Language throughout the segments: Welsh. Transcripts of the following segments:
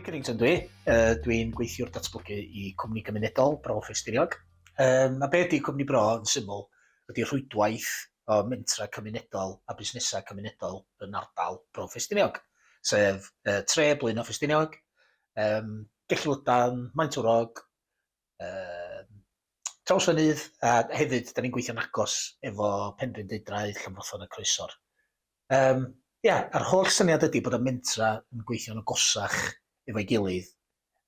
Cummings yn dwi. Uh, Dwi'n gweithio'r datblygu i cwmni gymunedol Bro Ffestiniog. Um, a be ydy cwmni Bro yn syml ydy rhwydwaith o mentra cymunedol a busnesau cymunedol yn ardal Bro Ffestiniog. sef yy tre Blaenau Ffestiniog, yym Gellilydan, Maentwrog, yy Trawsfynydd a hefyd 'dan ni'n gweithio'n agos efo Penrhyn Deudraeth, Llanfrothlon a Croesor. Yym ia a'r holl syniad ydi bod y mentra yn gweithio'n agosach efo'i gilydd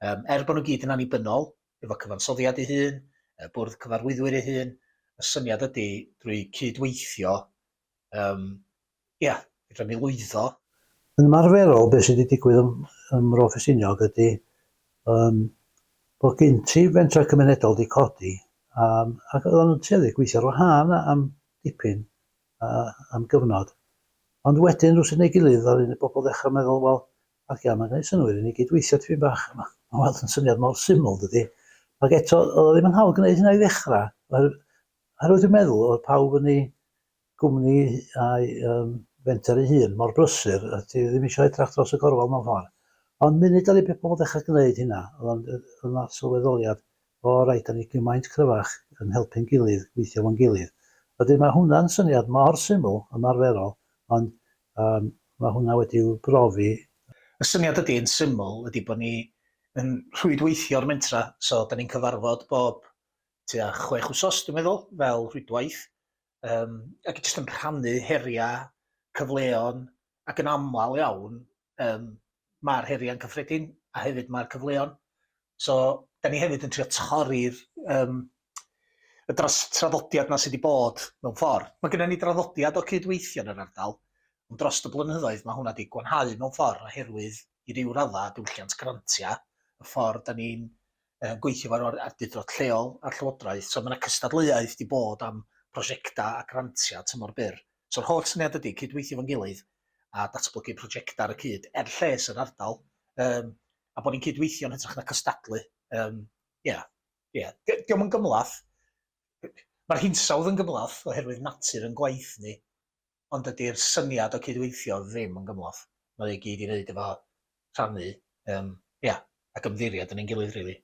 yym er bo' nw gyd yn annibynnol efo cyfansoddiad ei hun, y bwrdd cyfarwyddwyr ei hun, y syniad ydi drwy cyd-weithio Yym, ia, fedra ni lwyddo. Yn ymarferol, be' sy' 'di digwydd ym ym Mro Ffestiniog ydi yym bo' gin ti fentrau cymunedol 'di codi yym ac oeddan nhw'n tueddu i gweithio ar wahân am dipyn a am gyfnod. Ond wedyn rywsut neu gilydd ddaru ni bobl ddechrau meddwl, wel, ocê, mae'n gwneud synnwyr i ni gyd weithio tipyn bach, ma' ma' weld yn syniad mor syml, dydi? Ac eto, oedd o ddim yn hawdd gwneud hynna i ddechrau, oherwydd Oherwydd dwi'n meddwl oedd pawb yn ei gwmni a'i um, fenter ei hun mor brysur, a ti ddim eisiau edrach dros y gorwel mewn ffordd. Ond munud ar ei beth pobl ddechrau gwneud hynna, oedd yna sylweddoliad, o rhaid, da ni gymaint cryfach yn helpu'n gilydd, gweithio fo'n gilydd. Wedyn mae hwnna'n syniad mor syml, ymarferol, ond um, mae hwnna wedi'w brofi Y syniad ydy yn syml ydy bod ni yn rhwydweithio'r mentra, so da ni'n cyfarfod bob tua chwech wsos, dwi'n meddwl, fel rhwydwaith, um, ac jyst yn rhannu heriau, cyfleon, ac yn aml iawn, um, mae'r heriau'n cyffredin, a hefyd mae'r cyfleon. So, da ni hefyd yn trio torri'r um, y dros traddodiad na sydd wedi bod mewn ffordd. Mae gennym ni draddodiad o cydweithio yn yr ardal, ond dros y blynyddoedd mae hwnna wedi gwanhau mewn ffordd oherwydd i ryw raddau diwylliant grantiau, y ffordd da ni'n yn gweithio efo'r or- awdurdod lleol a'r llywodraeth. So mae 'na cystadleuaeth 'di bod am prosiectau a grantiau tymor byr. So'r holl syniad ydy cydweithio efo'n gilydd a datblygu prosiectau ar y cyd er lles yr ardal um, a bod ni'n cydweithio'n hytrach na cystadlu. Um, yeah. Yeah. Di- Diolch yn gymlath. Mae'r hinsawdd yn gymlath oherwydd natur yn gwaith ni. ond dydy'r syniad o cydweithio ddim yn gymhleth. Mae o i gyd i wneud efo rhannu yym ia ac ymddiried yn ein gilydd rili.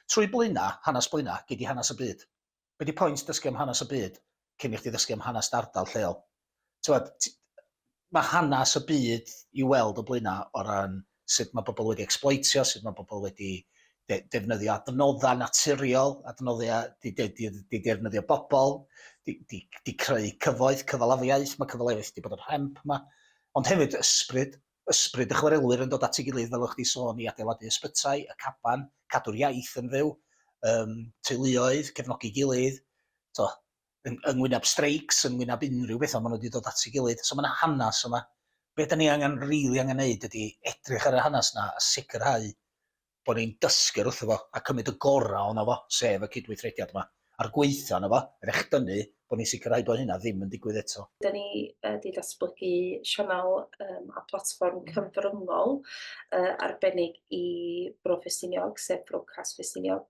Trwy Blaena', hanes Blaena', gei di hanes y byd. Be di point dysgu am hanes y byd cyn i chdi ddysgu am hanes dy ardal lleol? T'mod, ti- ma' hanes y byd i'w weld o Blaena' o ran sut mae pobl wedi ecsbloetio, sut mae pobl wedi defnyddio adnoddau naturiol, adnoddau di, di, di, di defnyddio bobl, di, di, di creu cyfoeth, cyfalafiaeth, mae cyfalafiaeth wedi bod yn rhemp yma, ond hefyd ysbryd, ysbryd y chwarelwyr yn dod at ei gilydd fel o'ch di sôn i adeiladu ysbytai, y caban, cadw'r iaith yn fyw, um, teuluoedd, cefnogi gilydd, to, yn yng ngwyneb streics, yn ngwyneb unrhyw beth ond ma' nhw 'di dod at ei gilydd. So ma' 'na hanes yma. Be' 'dan ni angen rili angen neud ydi edrych ar y hanes 'na a sicrhau bo' ni'n dysgu o'r wrtho fo a cymryd y gora' ono fo, sef y cydweithrediad yma, a'r gweithle ono fo, er echdynnu bo' ni'n sicrhau bo' hynna ddim yn digwydd eto. 'Dan ni yy 'di datblygu sianel yym a platfform cyfryngol yy arbennig i Bro Ffestiniog, sef Brocas Ffestiniog.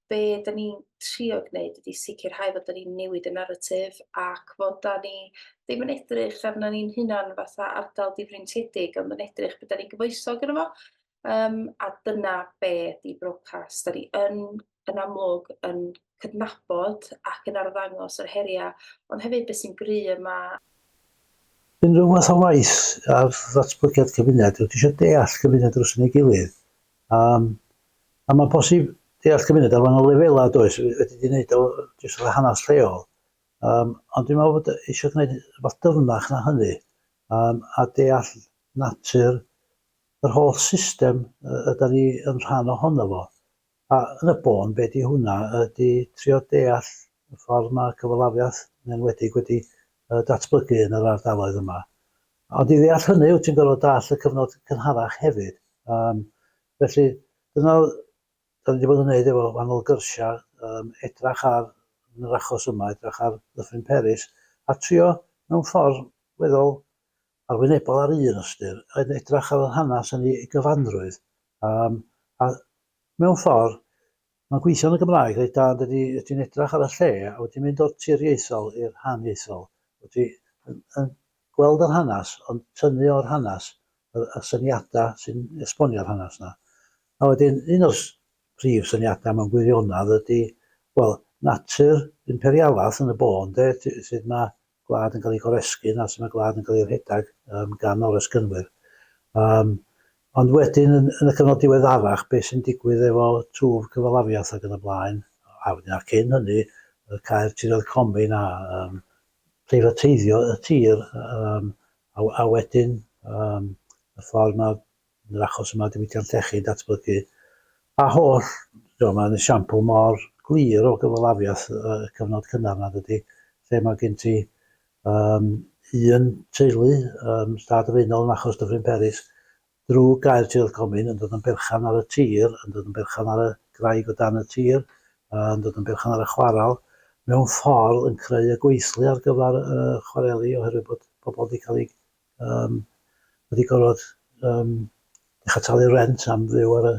be da ni'n trio gwneud ydy sicrhau fod da ni'n newid y naratif ac fod da ni ddim yn edrych arno ni'n hunan fatha ardal difreintiedig ond yn edrych beth da ni'n gyfoesog yn efo um, a dyna be di brocas. Da ni yn, yn amlwg yn cydnabod ac yn arddangos yr heriau ond hefyd beth sy'n gry yma Unrhyw fath o waith ar ddatblygiad cymuned, dwi eisiau deall cymuned dros yn ei gilydd, Um, a mae'n posib deall cymuned ar wahanol lefelau, does, wedi di wneud o jyst o'r hanes lleol. Um, ond dwi'n meddwl bod eisiau gwneud rhywbeth dyfnach na hynny, um, a deall natur yr holl system ydy ni yn rhan ohono fo. A yn y bôn, be di hwnna, ydy trio deall y ffordd mae cyfalafiaeth yn enwedig wedi datblygu yn yr ardaloedd yma. Ond i ddeall hynny wyt ti'n gorfod dall y cyfnod cynharach hefyd. Um, felly, dyna da ni wedi bod yn gwneud efo wahanol gyrsiau, um, edrach ar, yn yr achos yma, edrach ar Ddyffryn Peris, a trio mewn ffordd weddol arwynebol ar un ystyr, yn edrach ar yr hanes yn ei gyfanrwydd, um, a mewn ffordd Mae'n gweithio yn y Gymraeg reit dda ond ydy ydy'n edrach ar y lle a wedi mynd o'r tiriaethol i'r haniaethol wedi yn yn gweld yr hanas ond tynnu o'r hanas yr y syniada sy'n esbonio'r hanas na a wedyn un o'r prif syniada mewn gwirionadd ydy wel natur imperialath yn y bôn de t- sud mae gwlad yn cael ei goresgyn a sut mae gwlad yn cael ei rhedeg um, gan oresgynwyr. Um, ond wedyn, yn, yn y cyfnod diweddarach, beth sy'n digwydd efo twf cyfalafiaeth ac yn y blaen, a wedyn a cyn hynny, y cair tiroedd comin a um, preifateiddio y tir, um, a, a wedyn um, y ffordd mae Yn yr achos yma, diwydiant llechi, datblygu a holl, tibod, mae'n esiampl mor glir o gyfalafiaeth y cyfnod cynnar yna, dydy, lle mae gen ti um, un teulu, um, stad y Faenol yn achos Dyffryn Peris, drwy gael Tirwedd Comin yn dod yn berchan ar y tir, yn dod yn berchan ar y graig o dan y tir, yn dod yn berchan ar y chwaral, mewn ffordd yn creu y gweithlu ar gyfer y chwareli oherwydd bod pobl wedi cael eu um, wedi gorfod um, dechrau talu rent am fyw ar y,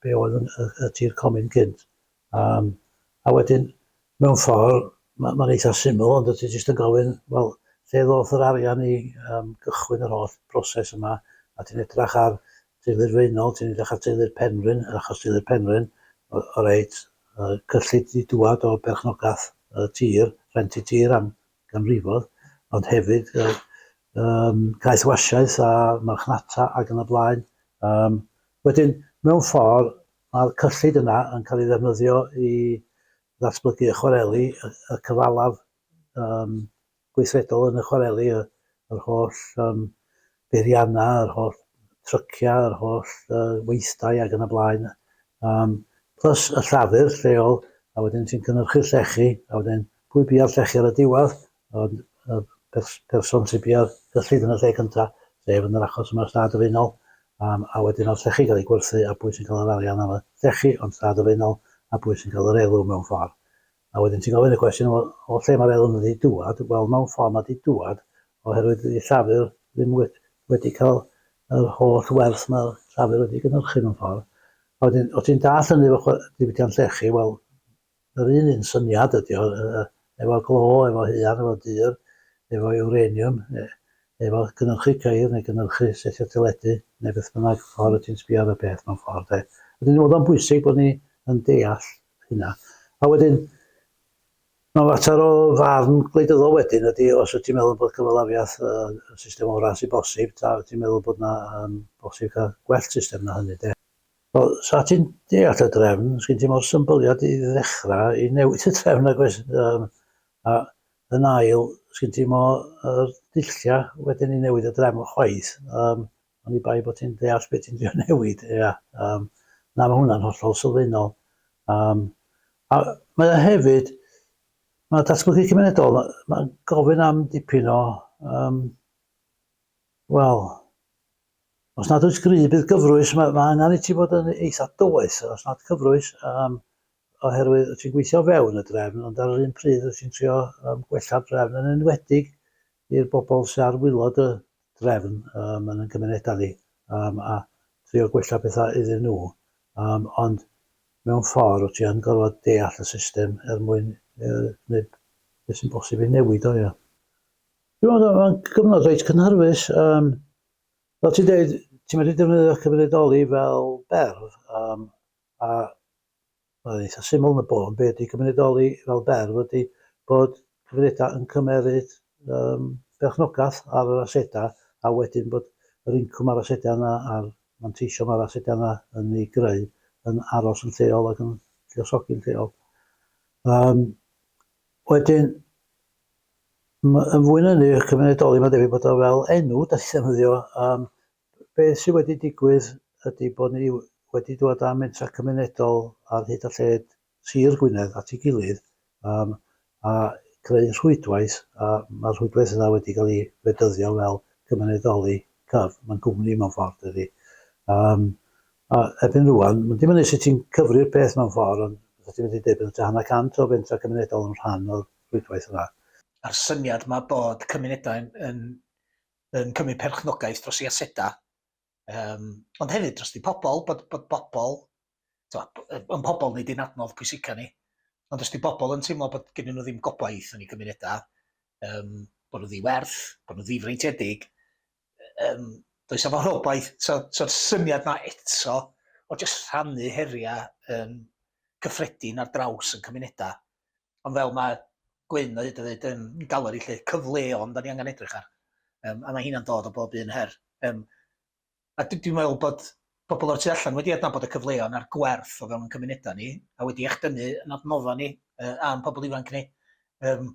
be oedd yn, y, y tir comin cynt. Um, a wedyn, mewn ffordd, mae'n ma eitha syml, ond ti jyst yn gofyn, wel, lle ddoth yr arian i um, gychwyn yr holl broses yma, a ti'n edrach ar teulu'r feunol, ti'n edrach ar teulu'r penrhyn, achos teulu'r penrhyn, o, o reit, uh, cyllid i dŵad o berchnogaeth y tir, rent i tir am ganrifoedd, ond hefyd yy yym caethwasiaeth a marchnata ac yn y blaen. Yym wedyn mewn ffordd mae'r cyllid yna yn cael ei ddefnyddio i ddatblygu y chwareli, y y cyfalaf yym gweithredol yn y chwareli, y yr holl yym beiriannau, yr holl tryciau, yr holl weithdai ac yn y blaen. Um, plus y llafur lleol, a wedyn ti'n cynnyrchu llechi, a wedyn pwy bia'r llechi ar y diwedd, ond y pers person sy'n bia'r gyllid yn y lle cyntaf, sef yn yr achos yma stad ofynol, um, a wedyn o'r llechi gael ei gwerthu a pwy sy'n cael yr arian am y llechi, ond stad ofynol, a pwy sy'n cael yr elw mewn ffordd. A wedyn ti'n gofyn y cwestiwn, wel, o lle mae'r elyn wedi dŵad? Wel, mewn ffordd mae wedi dŵad oherwydd i Llafur ddim wedi, wedi cael yr holl werth mae'r Llafur wedi gynhyrchu mewn ffordd. A wedyn, o ti'n dall hynny efo diwydiant llechi, wel, yr un un syniad ydy o, efo glo, efo huan, efo dyr, efo eureniwm, e, efo gynhyrchu ceir neu gynhyrchu setio teledu neu beth bynnag ffordd ti'n sbio ar y peth mewn ffordd. E. Wedyn, oedd o'n bwysig bod ni yn deall hynna. A wedyn, mae'n fater o farn gwleidyddol wedyn ydy os wyt ti'n meddwl bod cyfalafiaeth yn y system orau sy'n bosib, ta wyt ti'n meddwl bod yna um, bosib cael gwell system na hynny, de. O, sa ti'n deall y drefn, sgyn ti mor symbyliad i ddechrau i newid y drefn ac oes, um, a yn ail, sgyn ti mor uh, dulliau wedyn i newid y drefn chwaith. Um, Oni bai bod ti'n deall beth ti'n trio newid, ia. Um, na, mae hwnna'n hollol sylfaenol. Um, a mae o hefyd, mae datblygu cymunedol, mae'n ma gofyn am dipyn o, um, wel, os nad oes gry, bydd gyfrwys, mae, mae angen i ti fod yn eitha doeth, os nad cyfrwys, um, oherwydd ti'n gweithio fewn y drefn, ond ar yr un pryd ti'n trio um, gwella'r drefn yn enwedig i'r bobl sy' ar wylod y drefn yym yn ein cymunedau ni yym a trio gwella petha iddyn nhw yym ond mewn ffordd wt ti yn gorfod deall y system er mwyn yy gwneud beth sy'n bosib i newid o ia. Dwi'n meddwl mae'n gyfnod reit cynhyrfus yym fel ti'n deud ti'n medru defnyddio cymunedoli fel berf yym a Mae'n eitha syml yn y bôn be ydy cymunedoli fel berf ydy bod cymunedau yn cymeryd yym perchnogaeth ar yr asedau a wedyn bod yr incwm a'r asedau yna a'r manteision ma'r asedau yna yn ei greu yn aros yn lleol ac yn lluosogi'n lleol. Yym wedyn m- yn fwy na hynny cymunedoli mae'n debyg bod o fel enw da ni'n ddefnyddio yym Beth sydd wedi digwydd ydy bod ni wedi dod â mentrau cymunedol ar hyd a lled Sir Gwynedd at ei gilydd yym a creu rhwydwaith a mae'r rhwydwaith yna wedi cael ei fedyddio fel cymunedoli cyf, mae'n gwmni mewn ffordd dydy. Yym a erbyn rwan, mae'n dibynnu sut ti'n cyfri'r peth mewn ffordd ond fysa ti'n medru deud bod tua hanner cant o fentrau cymunedol yn rhan o'r rhwydwaith yna. A'r syniad 'ma bod cymunedau yn yn cymryd perchnogaeth dros ei asedau, um, ond hefyd dros di pobl, bod, bod bobl, yn pobl nid yn adnodd pwysica ni, ond os di bobl yn teimlo bod gen nhw ddim gobaith yn ei gymunedau, um, bod nhw ddiwerth, bod nhw ddifreintiedig, um, does efo rhobaeth, so'r so, so syniad na eto o jyst rhannu heriau um, cyffredin ar draws yn cymunedau, Ond fel mae Gwyn o hyd yn ddeud yn galeri 'lly, cyfleon 'dan ni angen edrych ar yym a mae heina'n dod o bob un her. Yym a dwi dwi'n meddwl bod pobl o'r tu allan wedi adnabod y cyfleon a'r gwerth o fewn ein cymunedau ni a wedi echdynnu yn adnodda ni yy a'n pobl ifanc ni. Yym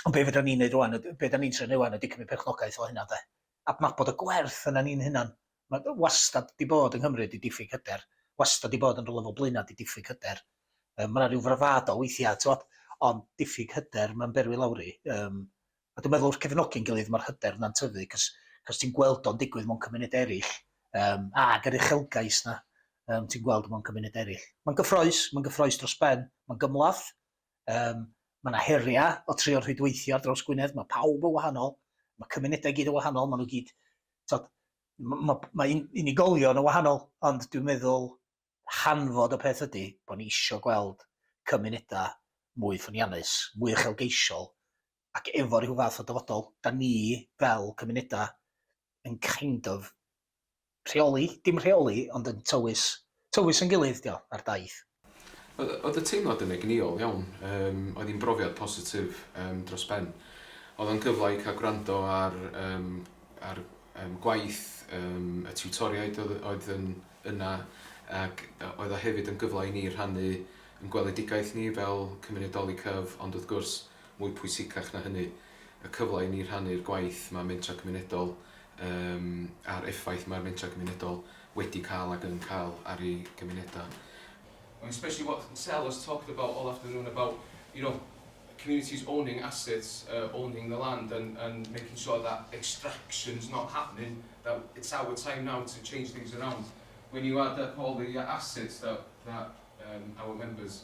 ond be' fedran ni wneud rŵan yd- be' 'dan ni'n trio neud ŵan ydy cymryd perchnogaeth o hynna de? Adnabod y gwerth yna ni'n hunan Ma' o wastad 'di bod yng Nghymru 'di diffyg hyder, wastad 'di bod yn rwla fel Blaenau 'di diffyg hyder. Yym ma' 'na ryw fravado weithia' t'mod ond diffyg hyder ma'n berwi lawr i yym a dwi'n meddwl wrth cefnogi'n gilydd ma'r hyder 'na'n tyfu 'c'os 'c'os ti'n gweld o'n digwydd mewn cymunede eryll yym ag yr uchelgais 'na yym ti'n gweld mewn cymunede eryll. Ma'n gyffrous ma'n gyffrous dros ben, ma'n gymhleth, Yym, ma' 'na heria' o trio rhwydweithio ar draws Gwynedd, ma' pawb yn wahanol, ma' cymunedau i gyd yn wahanol, ma' nw gyd t'od m- ma' ma' un- unigolion yn wahanol ond dwi'n meddwl hanfod y peth ydi bo' ni isio gweld cymuneda' mwy ffyniannus, mwy uchelgeisiol, ac efo rhyw fath o dyfodol, 'dan ni fel cymunedau yn kind of rheoli, dim rheoli ond yn tywys, tywys yn gilydd 'di o ar daith. Oedd oedd y teimlad yn egnïol iawn, yym oedd hi'n brofiad positif yym dros ben. Oedd o'n gyfle i cael gwrando ar yym ar yym gwaith yym y tiwtoriaid oedd oedd yn yna ac oedd o hefyd yn gyfle i ni rhannu yn gweledigaeth ni fel cymunedoli cyf ond wrth gwrs mwy pwysicach na hynny, y cyfle i ni rhannu'r gwaith mae Mentrau Cymunedol um, a'r effaith mae'r Mentrau Cymunedol wedi cael ac yn cael ar ei gymunedau. And especially what Sel has talked about all afternoon about, you know, communities owning assets, uh, owning the land and, and making sure that extraction's not happening, that it's our time now to change things around. When you add up all the assets that, that um, our members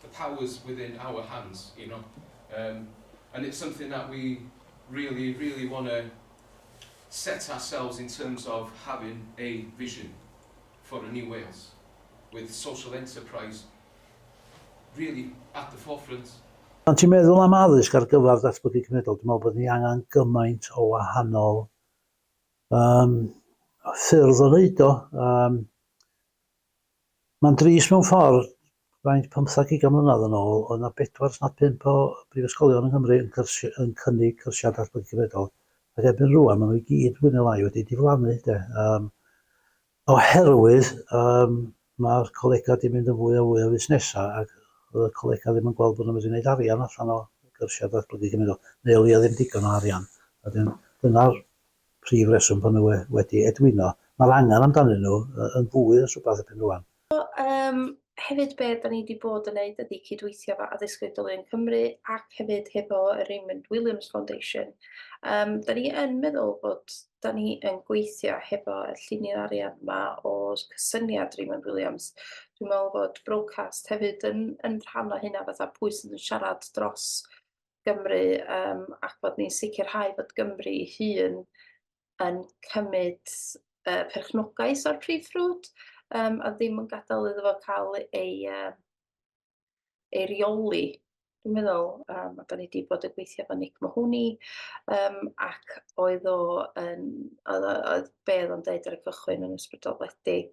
the powers within our hands, you know, um, and it's something that we really, really want to set ourselves in terms of having a vision for a new Wales, with social enterprise really at the forefront. Pan ti'n meddwl am addysg ar gyfer datblygu cymunedol, dwi'n meddwl bod ni angen gymaint o wahanol um, ffyrdd o wneud o. Um, Mae'n dris mewn ffordd Faint, pymtheg ugain mlynedd yn ôl, oedd 'na bedwar os nad pump o brifysgolion yng Nghymru yn cyrsi- yn cynnig cyrsiau datblygu cyfredol, ac erbyn rŵan maen nhw i gyd fwy neu lai wedi diflannu de, yym, oherwydd yym mae'r colegau wedi mynd yn fwy a fwy o fusnesau ac oedd y colegau ddim yn gweld bod nhw'n medru gwneud arian allan o gyrsiau datblygu cyfredol, neu o leia ddim digon o arian, a wedyn dyna'r prif reswm bod nhw we- wedi edwino. Mae'r angen amdanyn nhw y- yn fwy os rhywbeth erbyn rŵan. So, um, hefyd be da ni wedi bod yn neud ydy cydweithio efo Addysg Oedolion Cymru ac hefyd hefo y Raymond Williams Foundation. Um, da ni yn meddwl bod da ni yn gweithio hefo y llunydd arian yma o cysyniad Raymond Williams. Dwi'n meddwl bod broadcast hefyd yn, yn rhan o hynna fatha pwy sydd yn siarad dros Gymru um, ac bod ni'n sicrhau bod Gymru hun yn cymryd yy perchnogaeth o'r prif ffrwd yym a ddim yn gadael iddo fo cael ei yy ei reoli dwi'n meddwl yym a 'dan ni 'di bod yn gweithio efo Nick Mahoney yym ac oedd o yn oedd o oedd be' oedd o'n deud ar y cychwyn yn ysbrydoledig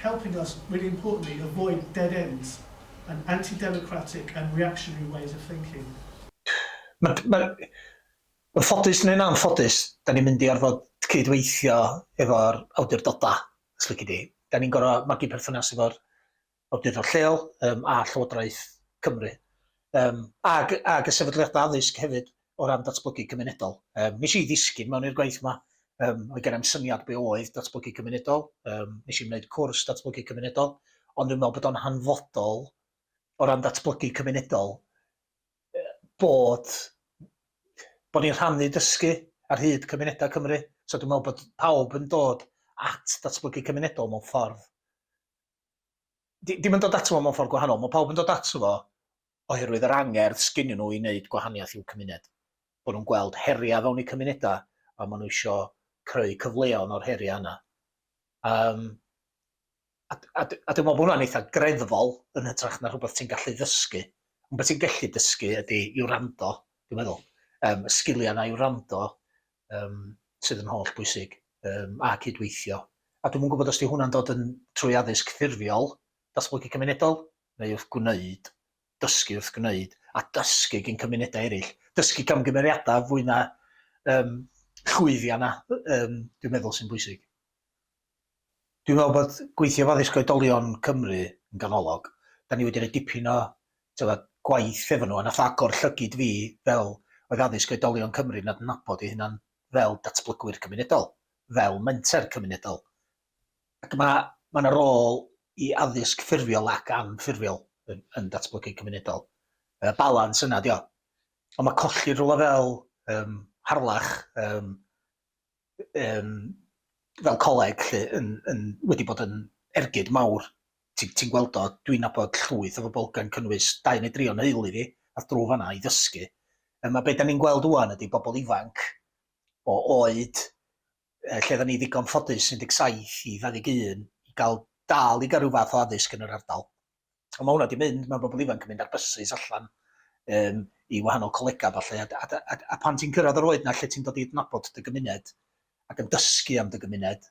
helping us, really importantly, avoid dead ends and anti-democratic and reactionary ways of thinking. Mae'n ffodus neu'n anffodus, da ni'n mynd i orfod cyd-weithio efo'r awdurdodau, os lici di. Da ni'n gorfod magu perthynas efo'r awdurdod lleol a Llywodraeth Cymru, ac y sefydliadau addysg hefyd. o ran datblygu cymunedol. Um, nes i ddisgyn mewn i'r gwaith yma, um, o'i gennym syniad be oedd datblygu cymunedol, um, nes i wneud cwrs datblygu cymunedol, ond dwi'n meddwl bod o'n hanfodol o ran datblygu cymunedol bod, bod ni'n rhannu dysgu ar hyd cymunedau Cymru. So dwi'n meddwl bod pawb yn dod at datblygu cymunedol mewn ffordd. Di, dim yn dod ato fo mewn ffordd gwahanol, mae pawb yn dod ato fo oherwydd yr angerdd sgynyn nhw i wneud gwahaniaeth i'w cymuned. Bod nhw'n gweld heriau fewn eu cymunedau a maen nhw isio creu cyfleon o'r heriau yna. Um, a, a, a dwi'n meddwl bod hwnna'n eitha greddfol yn hytrach na rhywbeth ti'n gallu ddysgu. Ond beth ti'n gallu dysgu ydy i wrando, dwi'n meddwl. Um, y sgiliau yna i wrando um, sydd yn holl bwysig um, a cydweithio. A dwi'n gwybod os di hwnna'n dod yn trwy addysg ffurfiol, datblygu cymunedol, neu wrth gwneud, dysgu wrth gwneud, a dysgu gin cymunedau eraill. Dysgu camgymeriadau fwy na um, llwyddiau na, um, dwi'n meddwl sy'n bwysig. Dwi'n meddwl bod gweithio fo addysg oedolion Cymru yn ganolog. Da ni wedi rhoi dipyn o tyfa, gwaith efo nhw, a nath agor llygyd fi fel oedd addysg oedolion Cymru nad nabod ei hunan fel datblygwyr cymunedol, fel menter cymunedol, Ac mae mae yna rôl i addysg ffurfiol ac anffurfiol yn, yn datblygu cymunedol. Y balans yna dio. Ond mae colli rhywle fel um, Harlech um, um, fel coleg lle yn, yn, wedi bod yn ergyd mawr. Ti'n ti gweld o, dwi'n nabod llwyth o bobl gan cynnwys dau neu dri o'n heulu fi, a drwy fanna i ddysgu. Um, a beth da ni'n gweld wwan ydy bobl ifanc o oed lle oedden ni ddigon ffodus 17 i 21 i gael dal i gael rhyw fath o addysg yn yr ardal. Ond mae hwnna wedi mynd, mae bobl ifanc yn mynd ar bysus allan um, i wahanol colegau falle, a, a, a, a pan ti'n cyrraedd yr oed na lle ti'n dod i adnabod dy gymuned ac yn dysgu am dy gymuned,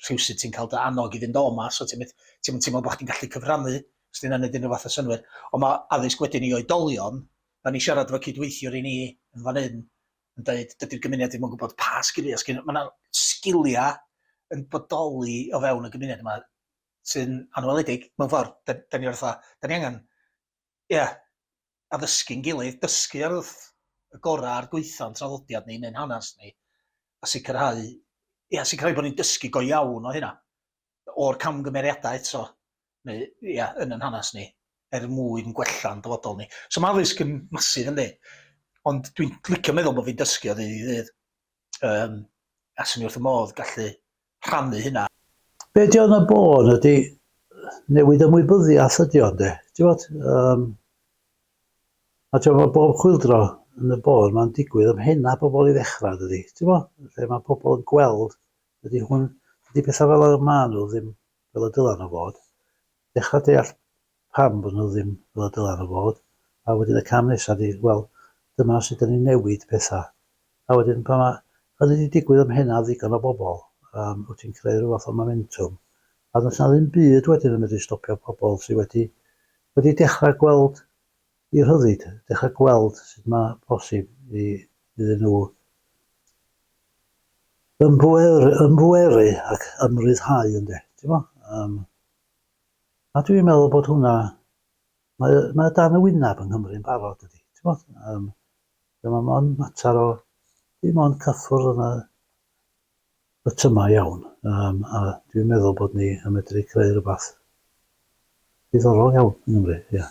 rhywsyd ti'n cael dy annog i fynd o yma, so ti'n ti teimlo bod chdi'n gallu cyfrannu, os ti'n anodd unrhyw fath o synwyr. Ond mae addysg wedyn i oedolion, da ni siarad efo cydweithiwr i ni yn fan hyn, yn dweud dydy'r gymuned ddim yn gwybod pa sgiliau sgyn nhw. Mae yna sgiliau yn bodoli o fewn y gymuned yma sy'n anweledig mewn ffordd. Da, da ni orfa, da ni angen, ie, yeah, addysgu'n gilydd, dysgu ar wrth y gorau a'r gweitho'n traddodiad ni neu'n hanes ni, a sicrhau, ie, yeah, sicrhau bod ni'n dysgu go iawn o hynna. o'r camgymeriadau eto, neu ia, yn yn hanes ni, er mwyn gwella'n dyfodol ni. So mae addysg yn masif yndi, ond dwi'n licio meddwl bod fi'n dysgu o ddydd i ddydd, um, a sy'n ni wrth y modd gallu rhannu hynna. Be di o'n y bôn ydy newid ymwybyddiaeth ydy o'n de, ti'n bod? Um, a ti'n bod, bob chwildro yn y bôn, mae'n digwydd ymhena pobl i ddechrau, dydy, ti'n bod? Lle mae pobl yn gweld Dydy hwn, dydy pethau fel yr maen nhw ddim fel y dylen nhw fod. Dechrau deall pam bod nhw ddim fel y dylen nhw fod, a wedyn y cam nesa ydy, wel, dyma sut 'da ni'n newid pethau. A wedyn pan mae hynny 'di digwydd ym mhennau ddigon o bobl, yym, wyt ti'n creu rhyw fath o momentwm, a does 'na ddim byd wedyn yn medru stopio pobl sy wedi wedi dechrau gweld Y rhyddid, dechrau gweld sut mae posib iddyn nhw ymbweru ac ymryddhau ynde, timod. Yym, a dwi'n meddwl bod hwnna, mae o, mae o dan y wyneb yng Nghymru yn barod dydy, timod. Yym, dyma mond mater o dim ond cyffwrdd yna, Bytyma iawn, yym, a dwi'n meddwl bod ni yn medru creu rhywbeth diddorol iawn yng Nghymru, ie.